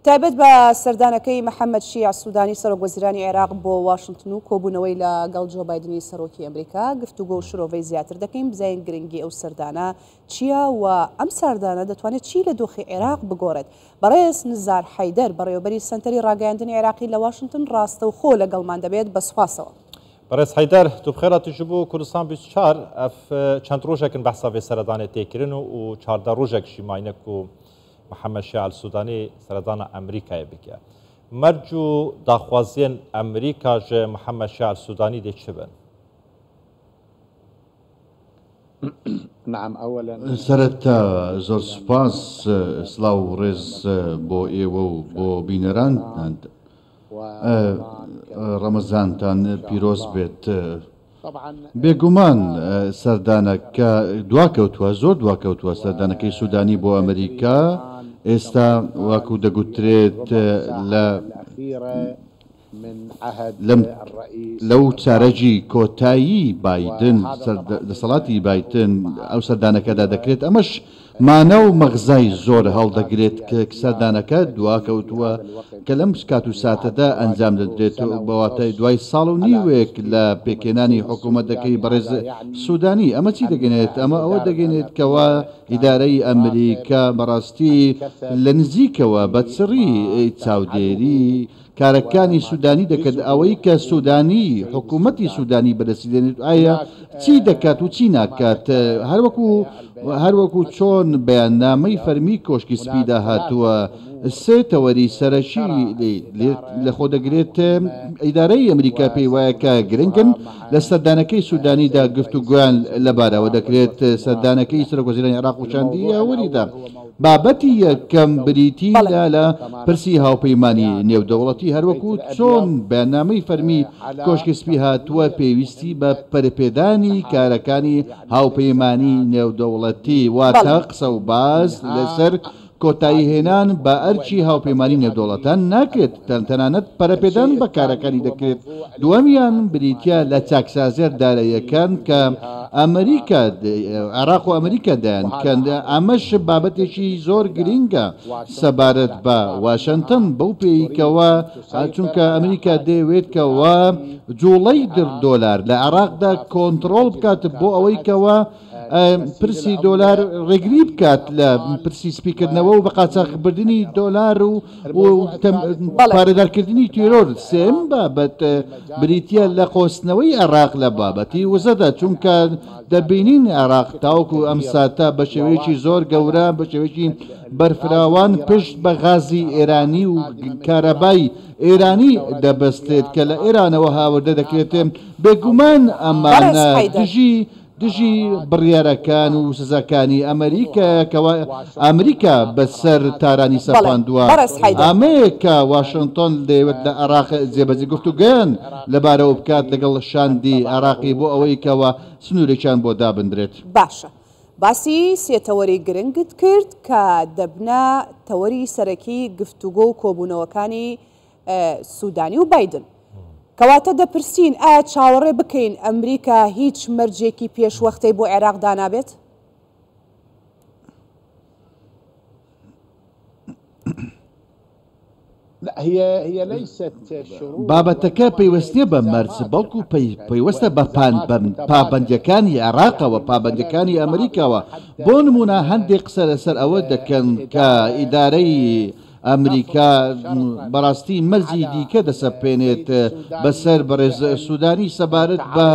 تایبەت بە سەردانەکەی محەمەد شیع سودانی سەرۆک وەزیرانی عێراق بۆ واشنتن و کۆبوونەوەی لە گەڵ جۆ بایدنی سەرۆکی ئەمریکا گفتوگۆ و شرۆڤەی زیاتر دەکەین بزانین گرنگی ئەو سەردانە چییە و ئەم ساردانە دەتوانێت چی لە دۆخی عێراق بگۆڕێت بەڕێز نزار حەیدەر بەڕێوەبەری سەنتەری ڕاگەیاندنی عێراقی لە واشنتن ڕاستەوخۆ لەگەڵمان دەبێت بە سوپاسەوە. بەڕێز حەیدەر توبخێرا تژ بوو کوردستان 24 ئەف چەند ڕۆژێکن بەحسا بێ سەردانێ تێکرن و و چاردە ڕۆژێکشی ماینەک و محەمەد شیاع ئەلسودانی سەردانە ئەمریکایێ بکێ مەرج و داخوازیێن ئەمریکا ژە محەمەد شیاع ئەلسودانی دێ چ بن؟ سەرەتا زۆر سوپاس سڵاو و ڕێز بۆ ئێوە و بۆ بینەرانتان. ڕەمەزانتان پیرۆز بێت. بێگومان سەردانەکە دواکەوتووە، زۆر دواکەوتووە، سەردانەکەی سوودانی بۆ ئەمریکا ئێستا وەکو دەگوترێت لەو چارەگی کۆتایی بایدن، دەسەڵاتی بایدن ئەو سەردانەکەدا دەکرێت، ئەمەش مانا و مەغزای زۆر هەڵدەگرێت کە سەردانەکە دواکەوتووە کە لەم کات و ساتەدا ئەنجام دەدرێت و بە واتای دوای ساڵ و نیوێک لە پێکهێنانی حکوومەتەکەی بەڕێز سوودانی. ئەمە چی دەگەنێت؟ ئەمە ئەوە دەگەنێت کەوا ئیدارەی ئەمریکا بەڕاستی لە نزیکەوە بە چڕی چاودێری، کارەکانی سودانی دەکەت ئەوەی کە سودانی حکومەتی سودانی بەدەستی دێنێت ئایا چی دەکات و چی ناکات هەروەکو هەروەکو چۆن بەیاننامەی فەرمی کۆشکی سپیدا هاتووە سێ تەوەری سەرەکی لەخۆ دەگرێت ئیدارەی ئەمریکا پێی وایە کە گرنگن لە سەردانەکەی سودانیدا گفتوگویان لەبارەوە دەکرێت سەردانەکەی سەرۆک وەزیرانی عێراق و چەندی یاوەریدا بابەتی یەکەم بریتی لە لە پرسی هاوپەیمانی نێودەوڵەتی هەروەکو چۆن بەیاننامەی فەرمی کۆشکی سپی هاتووە پێویستی بە پەرپێدانی کارەکانی هاوپەیمانی نێودەوڵەتی واتە قسە و باس لەسەر کۆتاییهێنان بە ئەرکی هاوپەیمانی نێودەوڵەتان ناکرێت. تەنانەت پەرەپێدان بە کارەکانی دەکرێت، دووەمیان بریتییە لە چاکسازییە داراییەکان کە ئەمریکا، عێراق و ئەمریکا دەیانکەن، ئەمەش بابەتێکی زۆر گرینگە سەبارەت بە واشنتن بەو پێیەی کەوا چونکە ئەمریکا دەیەوێت کەوا جوڵەی دۆلار لە عێراقدا کۆنتڕۆڵ بکات بۆ ئەوەی کەوا پرسی دۆلار ڕێگری بکات لە پرسی سپیکردنەوە و بە قاچاخبردنی دۆلار و پارێدارکردنی تیرۆر سێم بابەت بریتە لە قۆستنەوەی عێراق لە بابەتی وزەدا چونکە دەبینین عێراق تاوکو ئەم ساتە بە شێوەیەکی زۆر گەورە بە شێوەیەکی بەرفراوان پشت بە غازی ئێرانی و کارەبای ئێرانی دەبستێت کە لە ئێرانەوە هاوردە دەکرێتێ بێگومان ئەمانە دژی دژی بڕیارەکان و سزاکانی ئەمەریکایە کە ئامریکا بە سەر تارانی سەپاندوە، ئامەیە کە واشنتۆن دەیەوێت لە عێراق جێبەجی گفتوگۆیان لە بارەوە بکات لەگەڵ شاندی عێراقی بۆ ئەوەی کە وە سنورێکیان بۆ دابندرێت. باشە باسی سێ تەوەری گرنگت کرد کە دەبنە تەوەری سەرەکی گفتوگۆ و کۆبونەوەکانی سودانی و بایدن. کەواتە دەپرسین ئایا چاوەڕێ بکەین ئەمریکا هیچ مەرجێکی پێشوەختەی بۆ عێراق دانابێت؟ بابەتەکە پەیوەست نیە بە مەرج بەڵکو پەیوەستە بە پابەندیەکانی عێراقەوە پابەندەکانی ئەمریکاوە بۆ نمونە هەندێک قسە لەسەر ئەوە دەکەن کە ئیدارەی ئەمریکا بەڕاستی مەرجی دیکە دەسەپێنێت بەسەر بەڕێز سوودانی سەبارەت بە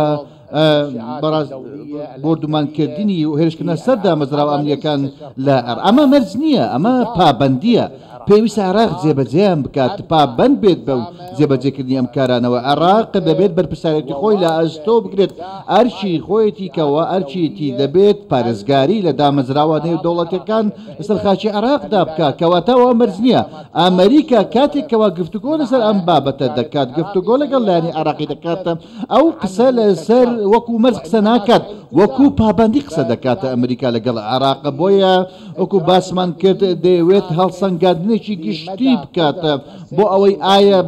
بۆردومانکردنی و هێرشکردە سەر دامەزراوە ئەمنیەکان لە عێراق ئەمە مەرج نییە ئەمە پابەندیە پێویستە عێراق جێبەجێیان بکات پابەند بێت بەو جێبەجێکردنی ئەم کارانەوە عێراق دەبێت بەرپرسیارێتی خۆی لە ئەستۆ بگرێت ئەرکی خۆیەتی کەەوە ئەرکیەتی دەبێت پارێزگاری لە دامەزراوە نێودەوڵەتەکان لەسەر خاکی عێراقدا بکات، کەواتە ئەوە مەرج نییە. ئەمریکا کاتێک کەوا گفتوگۆ لەسەر ئەم بابەتە دەکات، گفتوگۆ لەگەڵ لایەنی عێراقی دەکات، ئەو قسە لەسەر وەکو مەرج قسە ناکات، وەکو پابەندی قسە دەکات. ئەمریکا لەگەڵ عێراق، بۆیە وەکو باسمان کرد، دەیەوێت هەڵسەنگاندنێکی گشتی بکات بۆ ئەوەی ئایا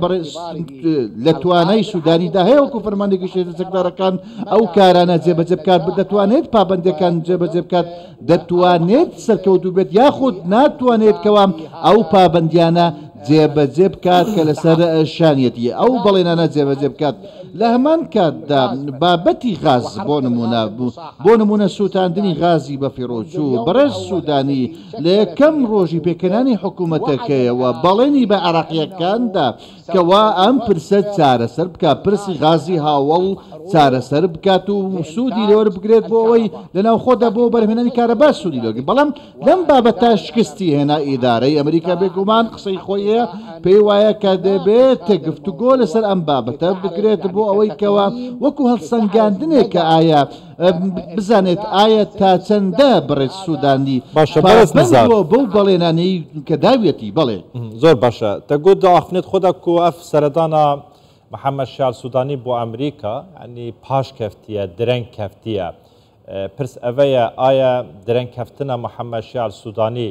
لە توانای سودانیدا هەیە وەکو فەرماندەی گشتی هێزە چەکدارەکان ئەو کارانە جێبەجێ بکات، دەتوانێت پابەندییەکان جێبەجێ بکات، دەتوانێت سەرکەوتوو بێت یاخود ناتوانێت کەوا ئەو پابەندیانە جێبەجێ بکات کە لەسەر شانیەتی ئەو بەڵێنانە جێبەجێ بکات لە هەمان کاتدا بابەتی غاز بۆ نمونە بوو بۆ نمونە سووتاندنی غازی بەفیڕۆچوو بەڕێز سوودانی لە یەکەم ڕۆژی پێکەنانی حکوومەتەکەیەوە بەڵێنی بە عێراقییەکاندا کوا ئەم پرسە چارەسەر بکات پرسی غازی هاوەڵ چارەسەر بکات و سوودی لێوەر بگرێت بۆ ئەوەی لە ناوخۆدا بۆ بەرهێنانی کارەبا سوودی لێوەرگرێت بەڵام لەم بابەتە شکستی هێنا ئیدارەی ئەمریکا بێگومان قسەی خۆی هەیە پێی وایە کە دەبێت گفتوگۆ لەسەر ئەم بابەتە بکرێت بۆ ئەوەی کەوا وەکو هەڵسەنگاندنێک کە ئایا بزانێت ئایا تا چەندە بەڕێز سودانی باشە بەڕێز پابەند نزار بووە بەو بەڵێنانەی کە داویەتی؟ بەڵێ. زۆر باشە تە گوت ئاخونێت خۆدا کو ئەف سەردانا محمد شیعر سودانی بۆ ئەمریکا یانی پاش کەفتیە درەنگ کەفتیە پرس ئەڤەیە ئایا درەنگ کەفتنە محمد شیعر سودانی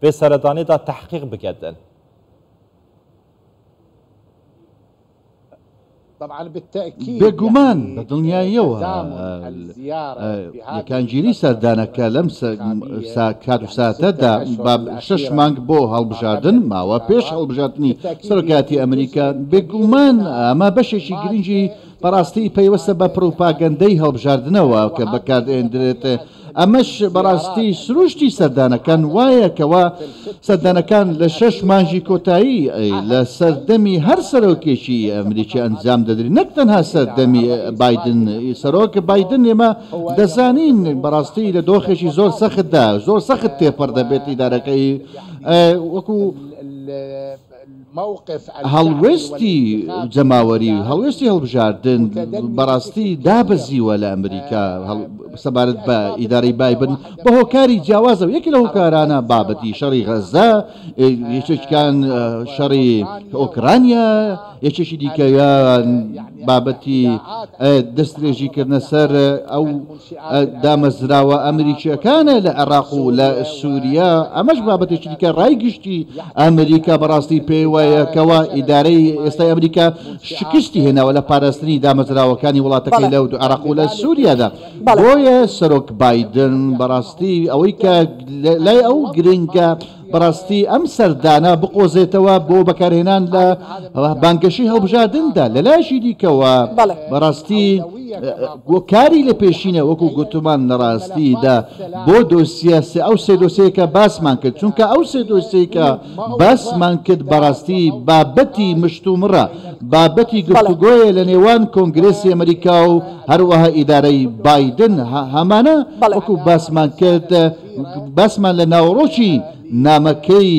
بێ سەردانێ دا تەحقیق بکەدن. بێگومان بە دڵنیاییەوە یەکانگیری سەردانەکە لەم کات و ساتەدا با شەش مانگ بۆ هەڵبژاردن ماوە پێش هەڵبژاردننی سەرۆکاتی ئەمریکا بێگومان ئەمە بەشێکی گرنگی بەڕاستی پەیوەستە بە پروپاگەندەی هەڵبژاردنەوە کە بەکاردێندرێت ئەمەش بەڕاستی سروشتی سەردانەکان وایە کەوا سەردانەکان لە شەش مانژی کۆتایی لە سەردەمی هەر سەرۆکێکی ئەمریکی ئەنجام دەدرێت نەک تەنها سەردەمی بادن سەرۆک بادن ئێمە دەزانین بەڕاستی لە دۆخێکی زۆر سەختدا زۆر سەخت تێپەر دەبێت ئیدارەکەی وەکو هەڵوێستی جەماوەری و هەڵوێستی هەڵبژاردن بەڕاستی دابەزیوە لە ئەمریکا سەبارەت بە ئیدارەی بایبن بە هۆکاری جیاوازە و یەکی لە هۆکارانە بابەتی شەڕی غەزە یەکێکان شەڕی ئۆکرانیا یەکێکی دیکەیان بابەتی دەستێژیکردنە سەر ئەو دامەزراوە ئەمریکییەکانە لە عێراق و لە سووریا، ئەمەش بابەتێکی دیکە ڕای گشتی ئەمریکا بەڕاستی پێی وایە کەوا ئیدارەی ئێستای ئەمریکا شکستی هێناوە لە پاراستنی دامەزراوەکانی وڵاتەکەی لە عێراق و لە سووریادا، بۆیە سەرۆک بایدن بەڕاستی ئەوەی کە لای ئەو گرنگە، بەڕاستی ئەم سەردانە بقۆزێتەوە بۆ بەکارهێنان لە بانگەشی هەڵبژاردندا لەلایشی دیکەوە بەڕاستی کاری لە پێشینە وەکو گوتمان لەڕاستیدا بۆ دۆسیاسە ئەو سێ دۆسەیەکە باسمان کرد چونکە ئەو سێ دۆسەیەکە باسمان کرد بەڕاستی بابەتی مشتومڕە بابەتی گفتوگۆیە لە نێوان کۆنگرسی ئەمریکا و هەروەها ئیدارەی بادن هەمانە وەکو باسمان کرد باسمان لە ناوەڕۆکی نامەکەی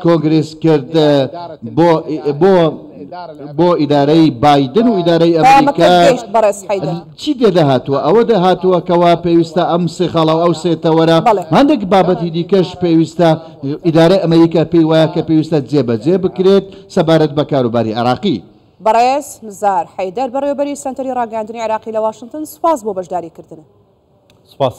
کۆنگرێس کرد بۆ ئیدارەی بایدن و ئیدارەی ئەمریکا چی تێدا هاتووە ئەوە دەهاتووە کەوا پێویستە ئەم سێ خاڵە و ئەو سێ تەوەرە هەندێک بابەتی دیکەش پێویستە ئیدارەی ئەمریکا پێی وایە کە پێویستە جێبەجێ بکرێت سەبارەت بە کاروباری عێراقی. بەڕێز نزار حەیدەر بەڕێوەبەری سەنتەری ڕاگەیاندنی عێراقی لە واشنتن سپاس بۆ بەشداریکردنە. سپاس.